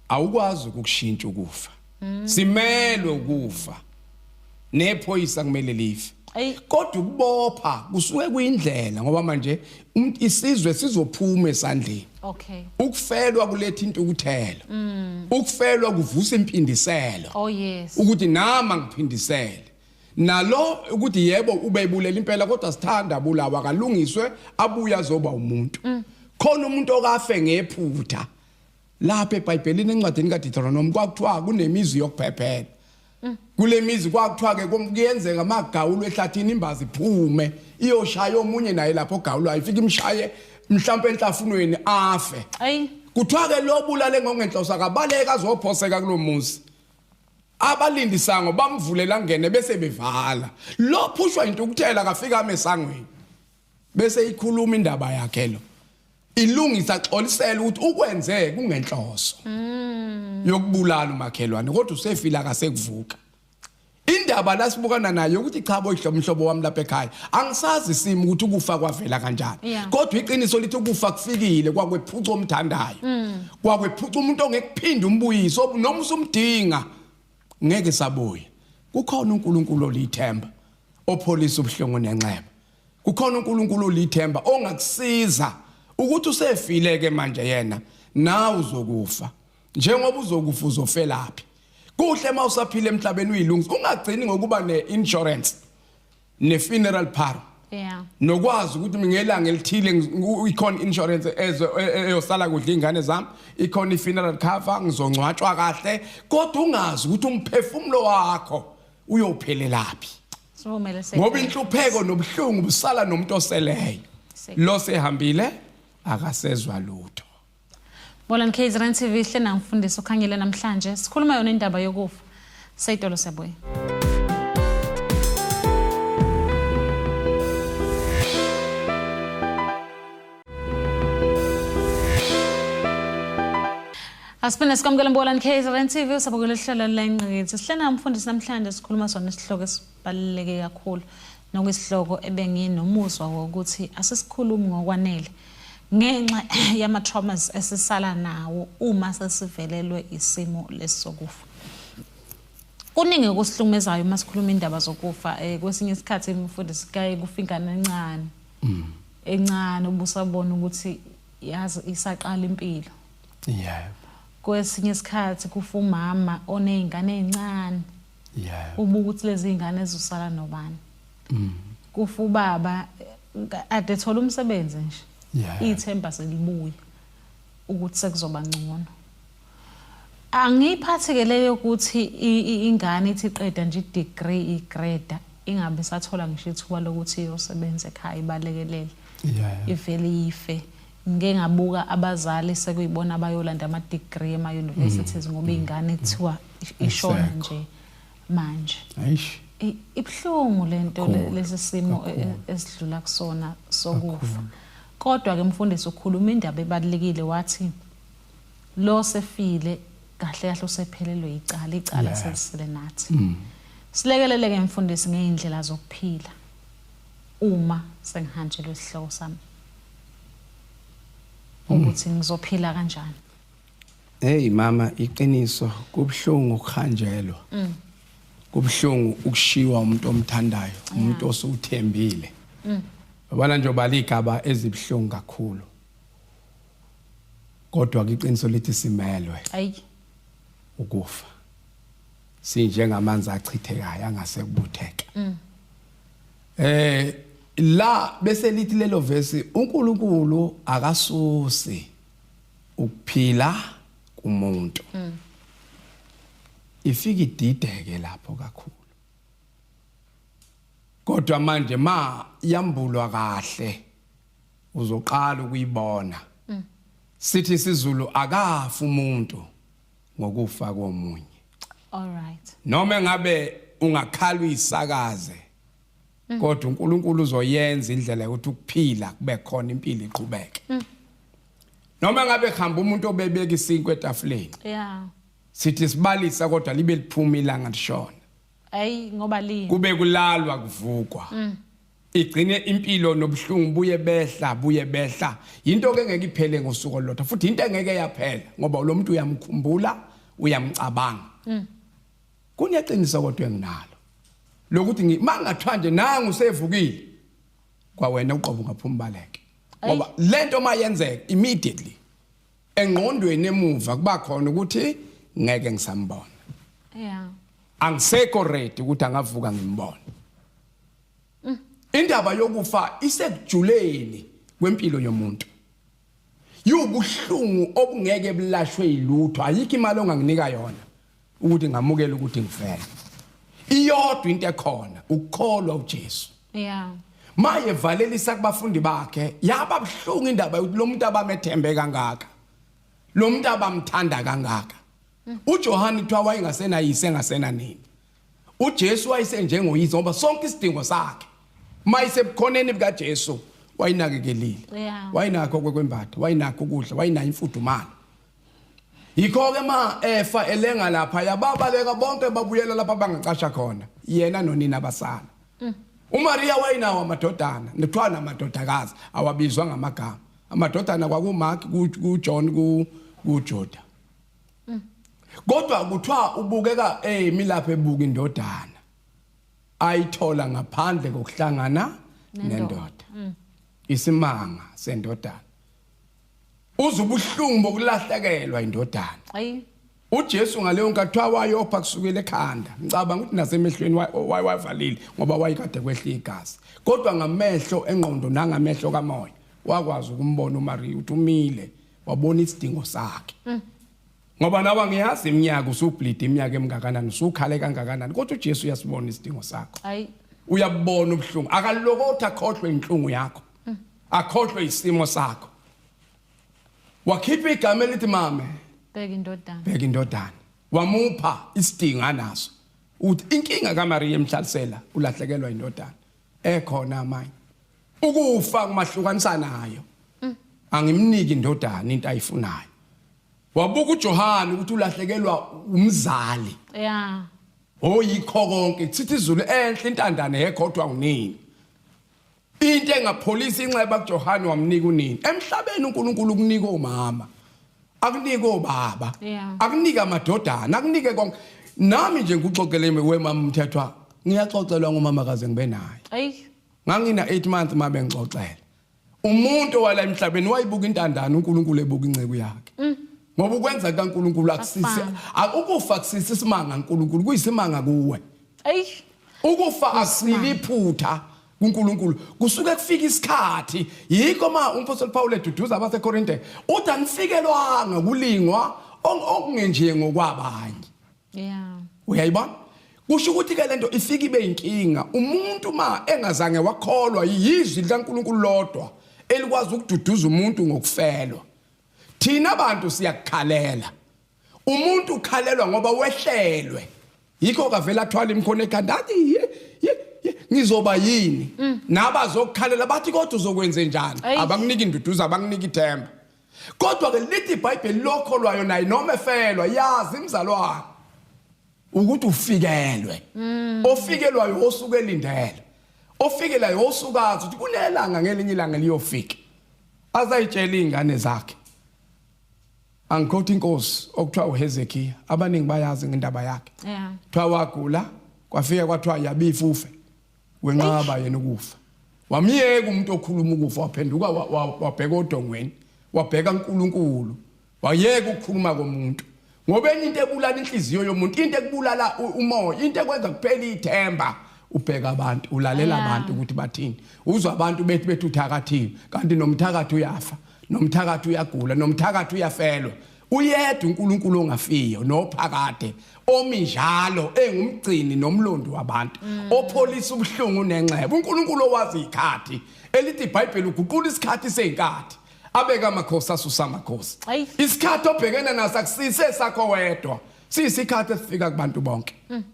Speaker 2: awukwazi ukukushintsha ukufa mm. simelwe ukufa nephoyisa kumele life kodwa ukubopha kusuke kuyindlela ngoba manje um, isizwe sizophuma esandleni okay
Speaker 1: ukufelwa kuletha
Speaker 2: intukuthelo mm. ukufelwa kuvusa impindiselo oh yes ukuthi
Speaker 1: nama
Speaker 2: ngiphindisele nalo ukuthi yebo ubebulela impela kodwa sithanda bulawa kalungiswe abuya zoba umuntu mm. khona umuntu okafe ngephutha lapha ebhayibhelini encwadini kadeuteronomi kwakuthiwa kunemizi yokubhebhela mm. kule mizi kwakuthiwa-ke kuyenzeka magawulo ehlathini imbazi iphume iyoshaya omunye naye lapho ogawulo ayifike imshaye mhlawumpe enhlafunweni afe kuthiwa-ke lo bulale ngongenhloso akabaleka azophoseka kulo muzi abalindisango bamvulela ngene bese bevala lo phushwa yintukuthela kafika amesangweni bese ikhuluma indaba yakhe lo ilungisa xolisela ukuthi ukwenze kungenhloso mm. yokubulala umakhelwane kodwa usefila akasekuvuka indaba lasibukana nayo ukuthi cha boyihlo umhlobo wami lapha ekhaya angisazi isimo ukuthi ukufa kwavela kanjani yeah. kodwa iqiniso lithi ukufa kufikile kwakwephuca omthandayo mm. kwakwephuca umuntu ongekuphinda umbuyiso noma usumdinga ngeke sabuya kukhona uNkulunkulu olithemba opholisa ubuhlungu nenxeba kukhona uNkulunkulu olithemba ongakusiza ukuthi usefile ke manje yena nawe uzokufa njengoba uzokufa uzofelaphi kuhle uma usaphila emhlabeni uyilungisa ungagcini ngokuba ne-insurance ne-funeral par yeah. nokwazi ukuthi ngelanga elithile ikhona insurance e, e, eyosala kudla iy'ngane zami ikhona i-funeral cover ngizongcwatshwa kahle kodwa ungazi ukuthi umphefumulo wakho uyophelelaphi Sivumele se. ngoba inhlupheko nobuhlungu busala nomuntu oseleyo lo sehambile akasezwa lutho Bolani
Speaker 1: KZN TV hle namfundisi ukhanyile namhlanje sikhuluma yona indaba yokufa seyitolo sebuye Asiphinda sikwamukela Mbolani KZN TV usabukela ihlelo lengqikithi. Sihlena umfundisi namhlanje sikhuluma sona isihloko esibaluleke kakhulu nokuyisihloko ebenginomuswa wokuthi asisikhulumi ngokwanele ngenxa yama traumas esisala nawo uma sesivelelwe isimo lesokufa. Kuningi okusihlukumezayo uma sikhuluma indaba zokufa eh, kwesinye isikhathi umfundisi kaye kufingana encane. mm. encane ubusabona ukuthi yazi isaqala impilo yeah kwesinye isikhathi kufa umama onezingane ezincane yeah ubuka ukuthi lezi zingane ezosala nobani mm. kufa ubaba ade thola umsebenzi nje ithemba selibuya ukuthi sekuzoba ngcono Angiyiphathi ke leyo ukuthi ingane ithi qeda nje i-degree igreda ingabe sathola ngisho ithuba lokuthi iyosebenza ekhaya ibalekelele ivele ife ngike ngabuka abazali sekuyibona abayolanda ama-degree ema-universities mm. ngoba iy'ngane kuthiwa ishona nje manje ibuhlungu le nto lesi simo e, e, esidlula kusona sokufa kodwa-ke mfundisi ukhuluma indaba ebalulekile wathi lo sefile kahle kahle usephelelwe icala icala yeah. selisile nathi mm. silekeleleke mfundisi ngeindlela zokuphila uma sengihanjelwe isihloko sami mm. ukuthi ngizophila kanjani hey
Speaker 2: mama iqiniso kubhlungu ukuhanjelwa mm. kubhlungu ukushiwa umuntu omthandayo umuntu osewuthembile mm. yabona nje obaligaba ezibhlungu kakhulu kodwa ke iqiniso lithi simelwe ayi ukufa sinjengamanzi achithekayo angase kubutheke mm. eh la bese lithi lelo verse uNkulunkulu akasusi ukuphila kumuntu mm. ifika idideke lapho kakhulu kodwa manje ma yambulwa kahle uzoqala ukuyibona mm. sithi isizulu akafa umuntu ngokufa komunye all right
Speaker 1: noma ngabe
Speaker 2: ungakhala uyisakaze mm. kodwa uNkulunkulu uzoyenza indlela yokuthi ukuphila kube khona impilo iqhubeke mm. noma ngabe khamba umuntu obebeka isinkwe etafuleni yeah
Speaker 1: sithi
Speaker 2: sibalisa kodwa libe liphuma ilanga lishona ayi ngoba
Speaker 1: lini kube kulalwa
Speaker 2: kuvukwa mm. igcine impilo nobuhlungu buye behla buye behla yinto ke ngeke iphele ngosuku olulodwa futhi into engeke yaphela ngoba lo muntu uyamkhumbula uyamcabanga mm. kuneqiniso kodwa enginalo lokuthi mangathiwa nje nangu sevukile kwawena uqobo ungaphuma baleke ngoba lento mayenzeka immediately engqondweni emuva kuba khona ukuthi ngeke ngisambona
Speaker 1: yeah angisekho
Speaker 2: ready ukuthi angavuka ngimbone Mm. Indaba yokufa isekujuleni kwempilo yomuntu. Yubuhlungu obungeke bulashwe ilutho ayikho imali onganginika yona ukuthi ngamukele ukuthi ngifele. Iyodwa into ekhona ukukholwa uJesu. Yeah.
Speaker 1: Maye
Speaker 2: valelisa kubafundi bakhe yaba buhlungu indaba yokuthi lo muntu abamethembe kangaka. Lo muntu abamthanda kangaka. Mm. UJohane kuthiwa wayengasenayise engasenanini. uJesu wayesenjengoyise ngoba sonke isidingo sakhe uma isebukhoneni bukaJesu wayinakekelile Yeah. wayinakho kwekwembatha wayinakho ukudla wayinayo imfudumalo yikho-ke ma efa elenga lapha yababaleka bonke babuyela lapha bangacasha khona yena nonina basala umariya wayinawo amadodana kuthiwa namadodakazi awabizwa ngamagama amadodana kwakumark kujohn kujuda kodwa kuthiwa ubukeka eyimilapho ebuka indodana ayithola ngaphandle kokuhlangana nendoda mm. isimanga sendodana uze ubuhlungu bokulahlekelwa indodana ayi
Speaker 1: uJesu ngaleyo
Speaker 2: nkathi wayopha kusukela ekhanda ngicabanga ukuthi nasemehlweni wayivalile ngoba wayikade kwehla igazi kodwa ngamehlo engqondo nangamehlo kamoya wakwazi ukumbona uMariya uthi umile wabona isidingo sakhe mm. ngoba nawe ngiyazi iminyaka usubhlide iminyaka emngakanani usukhale kangakanani kodwa uJesu uyasibona isidingo sakho hayi
Speaker 1: uyabona
Speaker 2: ubuhlungu akalokothi akhohlwe inhlungu yakho mm. akhohlwe isimo sakho wakhipha igama elithi mame bheka indodana
Speaker 1: bheka indodana
Speaker 2: wamupha isidingo anaso uthi inkinga kaMaria emhlalisela ulahlekelwa indodana ekhona manje ukufa kumahlukanisa nayo mm. angimniki indodana into ayifunayo wabuka uJohane ukuthi ulahlekelwa umzali yeah
Speaker 1: oyikho
Speaker 2: konke sithi izulu enhle intandane yekhodwa unini into engapholisa inxeba kuJohane wamnika unini emhlabeni uNkulunkulu ukunika omama akunike obaba akunike amadodana akunike konke nami nje ngikuxoxele wemama umthethwa ngiyaxoxelwa ngumama kaze ngibe naye ayi Ngangina
Speaker 1: 8
Speaker 2: month mame ngixoxela. Umuntu wala emhlabeni wayibuka intandana uNkulunkulu ebuka inceku yakhe. Mm. Ngoba ukwenza kaNkulunkulu akusisi akukufa kusisi isimanga uNkulunkulu kuyisimanga kuwe. Ey.
Speaker 1: Ukufa
Speaker 2: akusili iphutha. kuNkulunkulu kusuke kufika isikhathi yikho ma umphostoli Paul eduduza abaseKorinte uthi angifikelwanga kulingwa okungenje ngokwabanye
Speaker 1: yeah uyayibona
Speaker 2: kusho ukuthi ke lento ifika ibe inkinga umuntu ma engazange wakholwa yizwi likaNkuluNkulu lodwa elikwazi ukududuza umuntu ngokufelwa thina bantu siyakukhalela umuntu ukhalelwa ngoba wehlelwe yikho kavela athwala imkhono ekhanda athi ngizoba yini mm. nabazokukhalela bathi kodwa uzokwenze njani abanginiki induduza abanginiki ithemba Kodwa-ke lithi iBhayibheli lokho lwayo naye noma efelwa yazi imzalwane ukuthi ufikelwe. Mm. Ofikelwayo osuke elindele. Ofikelayo osukazi ukuthi kunelanga ngelinye ilanga liyofika. Azayitshela izingane zakhe. Angikhothi inkosi okuthiwa uHezekiya abaningi bayazi ngendaba yakhe. Yeah. Kuthiwa wagula kwafika kwathiwa yabifufe. wenqaba yena ukufa wamyeka umuntu okhuluma ukufa waphenduka wabheka odongweni wabheka uNkulunkulu wayeka ukukhuluma komuntu ngoba enye into ebulala inhliziyo yomuntu into ekubulala umoya into ekwenza kuphela ithemba ubheka abantu ulalela abantu ukuthi bathini uzwa abantu bethi bethi uthakathiwe kanti nomthakathi uyafa nomthakathi uyagula nomthakathi uyafelwa Uyedwa uNkulunkulu ongafiyo nophakade omi njalo engumgcini nomlondi wabantu mm. opholisa ubuhlungu nenxeba uNkulunkulu owazi ikhathi elithi iBhayibheli uguqula isikhathi seinkathi abeka amakhosi asusa amakhosi isikhathi obhekene naso akusise sakho wedwa siyisikhathi esifika kubantu bonke mm.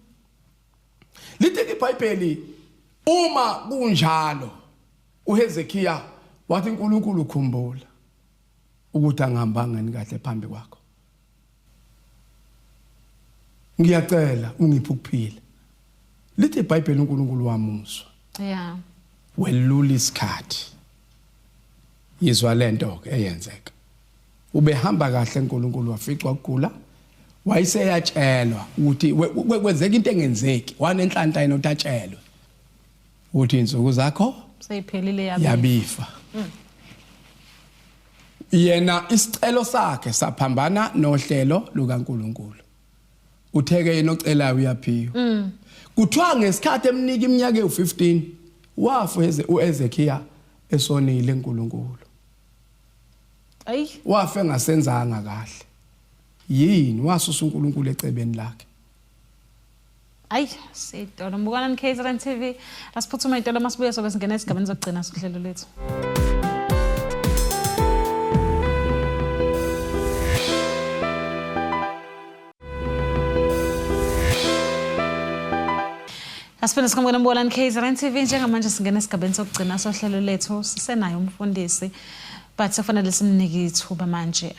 Speaker 2: lithi iBhayibheli uma kunjalo uHezekiya wathi uNkulunkulu ukhumbula ukuthi angihambanga ni kahle phambi kwakho ngiyacela ungiphe ukuphila lithi iBhayibheli uNkulunkulu wamuso yeah welula isikhathi yizwa lento ke eyenzeka ubehamba kahle uNkulunkulu waficwa ukugula wayeseyatshelwa ukuthi kwenzeka into engenzeki wanenhlanhla yena utatshelwe uthi insuku zakho seyiphelile
Speaker 1: yabifa
Speaker 2: mm. yena isicelo sakhe saphambana nohlelo lukaNkuluNkulu utheke yena ocelayo uyaphiwa mm. kuthiwa ngesikhathi emnika iminyaka ewu15 wafa uEzekiya esonile uNkulunkulu ayi wafa engasenzanga kahle yini wasusa uNkulunkulu ecebeni lakhe ayi
Speaker 1: sitolo mbukana nikzrn t v asiphuthuma itolo uma sibuye sobe singena esigabeni zokugcina sohlelo lethu Asifuna sikhambukela mbukana nikzrn t v njengamanje singena esigabeni sokugcina sohlelo lethu sisenayo umfundisi but sekufanele simnike ithuba manje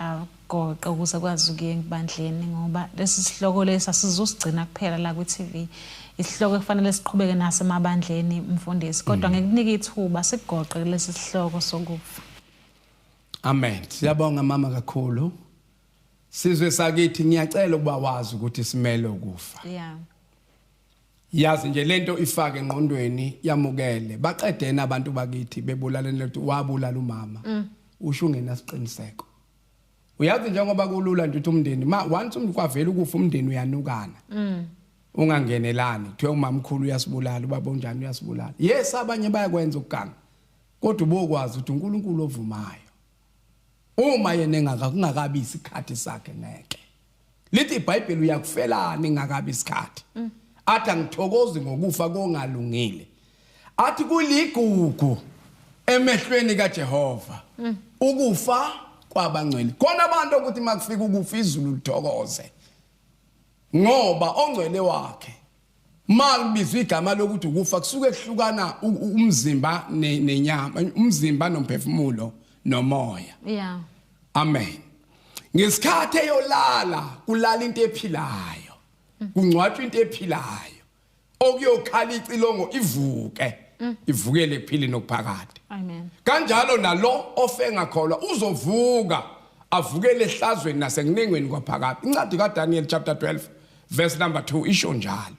Speaker 1: Goqo ukuze kwazi ukuya ebandleni ngoba lesi sihloko lesi asizusigcina kuphela la kwi-TV isihloko ekufanele siqhubeke naso emabandleni mfundisi kodwa mm. ngikunika ithuba sigoqe lesi sihloko sokufa
Speaker 2: Amen siyabonga mama kakhulu sizwe sakithi ngiyacela ukuba wazi ukuthi simele ukufa yeah yazi nje lento ifake engqondweni yamukele baqedena abantu bakithi bebulaleni lethi wabulala umama mm. usho ungenasiqiniseko uyazi njengoba kulula nje ukuthi umndeni ma once umuntu kwavela ukufa umndeni uyanukana mm. ungangenelani kuthiwe umamkhulu uyasibulala ubaba onjani uyasibulala yes abanye bayakwenza ukuganga kodwa ubokwazi ukuthi uNkulunkulu ovumayo uma yena engaka kungakabi isikhathi sakhe ngeke lithi ibhayibheli uyakufelani ngakabi isikhathi mm. athi angithokozi ngokufa kongalungile athi kuligugu emehlweni kaJehova mm. ukufa kwabangcwele khona abantu ukuthi makufika ukufa izulu lithokoze ngoba ongcwele wakhe Ma kubizwa igama lokuthi ukufa kusuke kuhlukana umzimba nenyama, umzimba nomphefumulo nomoya. Yeah. Amen. Ngesikhathi eyolala kulala into ephilayo. Kungcwatshwa into ephilayo. Okuyokhala icilongo ivuke. Mm. Ivukele ekuphili nokuphakade. Amen. Kanjalo
Speaker 1: nalo
Speaker 2: ofe ngakholwa uzovuka avukele ehlazweni nasekunengweni kwaphakade. Incwadi kaDaniel chapter 12 verse number 2 isho njalo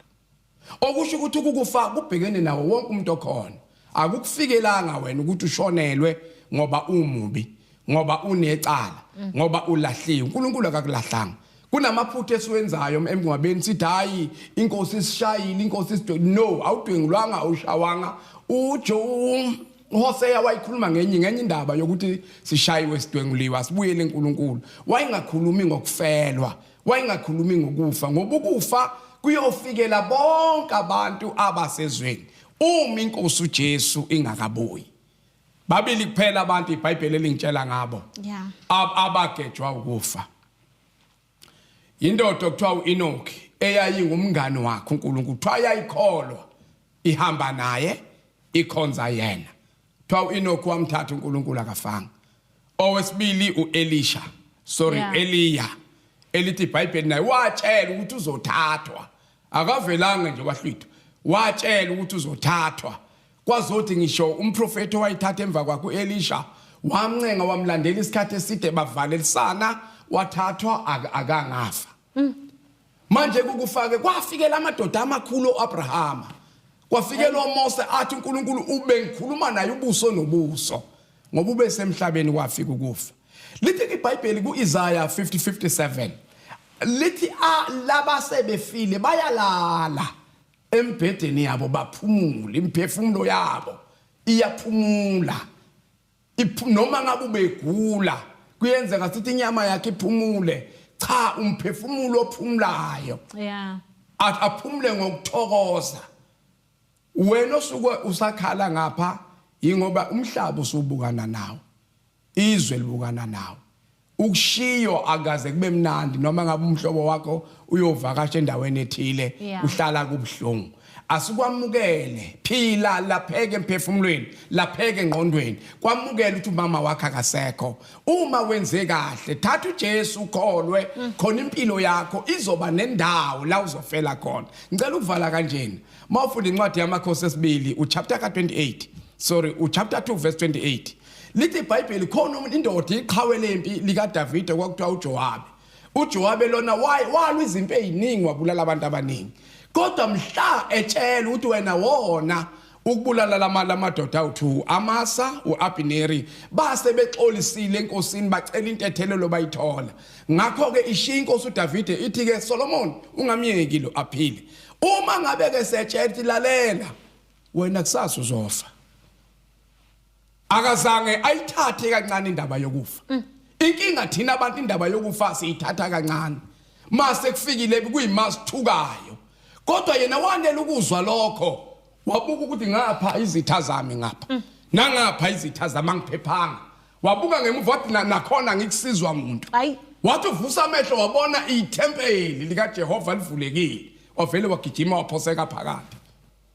Speaker 2: okusho ukuthi ukukufa kubhekene nawo wonke umuntu okhona akukufikelanga wena ukuthi ushonelwe ngoba umubi ngoba unecala ngoba ulahliwe uNkulunkulu akakulahlanga kunamaphutha esiwenzayo emngcwabeni sithi hayi inkosi isishayile inkosi isidwe no awudwengulwanga awushawanga ujo uHoseya wayikhuluma ngenye ngenye indaba yokuthi sishayiwe sidwenguliwe asibuyele eNkulunkulu wayengakhulumi ngokufelwa Wayengakhulumi ngokufa ngoba ukufa kuyofikela bonke abantu abasezweni uma inkosi uJesu ingakabuyi. Babili kuphela abantu iBhayibheli elingitshela ngabo. Yeah. Abagejwa ukufa. Indoda okuthiwa uEnoch eyayingumngani wakhe uNkulunkulu kuthiwa yayikholwa ihamba naye ikhonza yena. Kuthiwa u-Enoch wamthatha uNkulunkulu akafanga. Owesibili u-Elisha. Sorry, Yeah. Eliya. Elithi iBhayibheli naye watshela ukuthi uzothathwa. Akavelanga nje wahlwitha. Watshela ukuthi uzothathwa. Kwazothi ngisho umprofeti owayithatha emva kwakhe u-Elisha wamncenga wamlandela isikhathi eside bavalelisana wathathwa ak- akangafa. Manje kukufake kwafikela amadoda amakhulu oAbrahama. Kwafikela uMose athi uNkulunkulu ubengikhuluma naye ubuso nobuso ngoba ubesemhlabeni wafika ukufa. Lithi iBhayibheli kuIsaya 50:57 lithi laba sebefile bayalala embhedeni yabo baphumule imphefumulo yabo iyaphumula noma ngabe ubegula kuyenzeka ukuthi inyama yakhe iphumule cha umphefumulo ophumulayo yeah aphumule ngokuthokoza wena osuke usakhala ngapha ingoba umhlaba usubukana nawo izwe libukana nawo ukushiyo akaze kube mnandi noma ngabe umhlobo wakho uyovakasha endaweni ethile Yeah. uhlala kubuhlungu asikwamukele phila lapheke emphefumulweni lapheke engqondweni kwamukele ukuthi umama wakho akasekho uma wenze kahle thatha uJesu ukholwe khona impilo yakho izoba nendawo la uzofela khona ngicela ukuvala kanjena mawufunda incwadi yamakhosi esibili uchapter ka28 sorry uchapter 2 verse 28 Lithi iBhayibheli khona umuntu indoda iqhawe lempi likaDavide kwakuthiwa uJowabe. UJowabe lona waye walwa izimpi eziningi wabulala abantu abaningi. Kodwa mhla etshela ukuthi wena wona ukubulala lamala amadoda awu2 Amasa uAbineri base bexolisile enkosini bacela intethelelo bayithola ngakho ke ishiya inkosi uDavide ithi ke Solomon ungamyeki lo aphile uma ngabe ke setshela lalela wena kusasa uzofa akazange ayithathe kancane indaba yokufa mm. inkinga thina abantu indaba yokufa siyithatha kancane mase kufikile kuyimasithukayo kodwa yena wanele ukuzwa lokho wabuka ukuthi ngapha izitha zami ngapha mm. nangapha izitha zami angiphephanga wabuka ngemuva wathi nakhona ngikusizwa umuntu wathi uvusa amehlo wabona ithempeli likajehova livulekile wavele wagijima waphoseka phakathi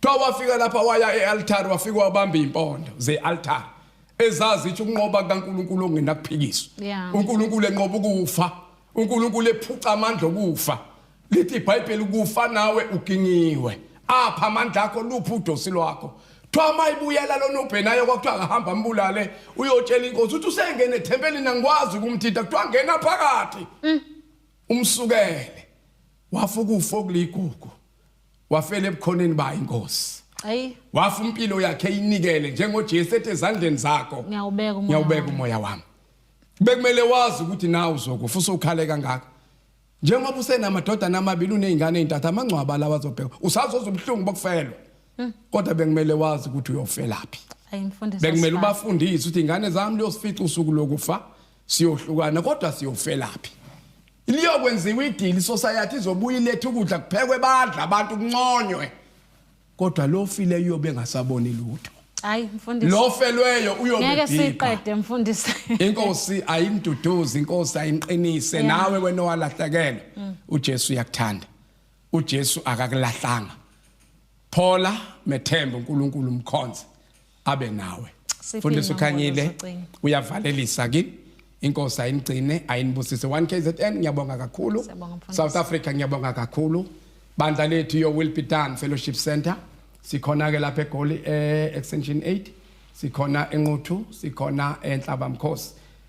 Speaker 2: Kuthiwa wafika lapha waya e-altari wafika wabamba iy'mpondo ze-altari ezazi ithi ukunqoba kukaNkulunkulu ongenakuphikiswa Yeah. uNkulunkulu enqoba ukufa uNkulunkulu ephuca amandla okufa lithi iBhayibheli kufa nawe ugingiwe apha amandla akho luphi udosi lwakho kuthiwa uma ibuyela lona ubhenayo kwakuthiwa akahamba ambulale uyotshela inkosi ukuthi usengene ethempelini angikwazi ukumthinta kuthiwa ngena phakathi umsukele wafa ukufa okuligugu wafela ebukhoneni bayo inkosi ayi wafa impilo yakhe inikele njengoJesu ethi ezandleni zakho ngiyawubeka umoya ngiyawubeka wami. umoya wami bekumele wazi ukuthi nawe uzokufa usukhale kangaka njengoba usenamadodana amabili unezingane ezintathu amangcwaba lawa azobheka usazoza ubuhlungu bokufelwa Hmm. kodwa bekumele wazi ukuthi uyofelaphi ayi mfundisi bekumele asifani. ubafundise ukuthi ingane zami liyosifica usuku lokufa siyohlukana kodwa siyofelaphi liyokwenziwa idili society izobuya ilethe ukudla kuphekwe badla abantu kunconywe kodwa lo fileyo uyobe engasaboni lutho hayi mfundisi lo
Speaker 1: felweyo
Speaker 2: uyobe ngeke siqede
Speaker 1: mfundisi inkosi
Speaker 2: ayimduduzi inkosi ayinqinise nawe wena owalahlekela mm. uJesu uyakuthanda uJesu akakulahlanga phola methemba uNkulunkulu umkhonze abe nawe fundisa ukhanyile uyavalelisa kini inkosi ayinigcine ayinibusise 1 KZN ngiyabonga kakhulu South Africa ngiyabonga kakhulu bandla lethu yo will be done fellowship center sikhona ke lapha egoli eh, extension 8 sikhona enquthu sikhona enhlaba mkhosi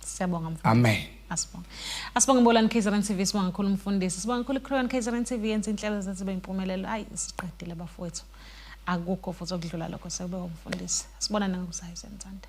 Speaker 1: Siyabonga mfundisi. Amen. Asibonge.
Speaker 2: Asibonge
Speaker 1: Mbolani KZN TV sibonga kakhulu umfundisi. Sibonga kakhulu iCrown KZN TV yenza inhlelo zenzibe impumelelo. Hayi siqedile bafowethu. Akukho futhi okudlula lokho sekube umfundisi. Sibona nangokuzayo senzanda.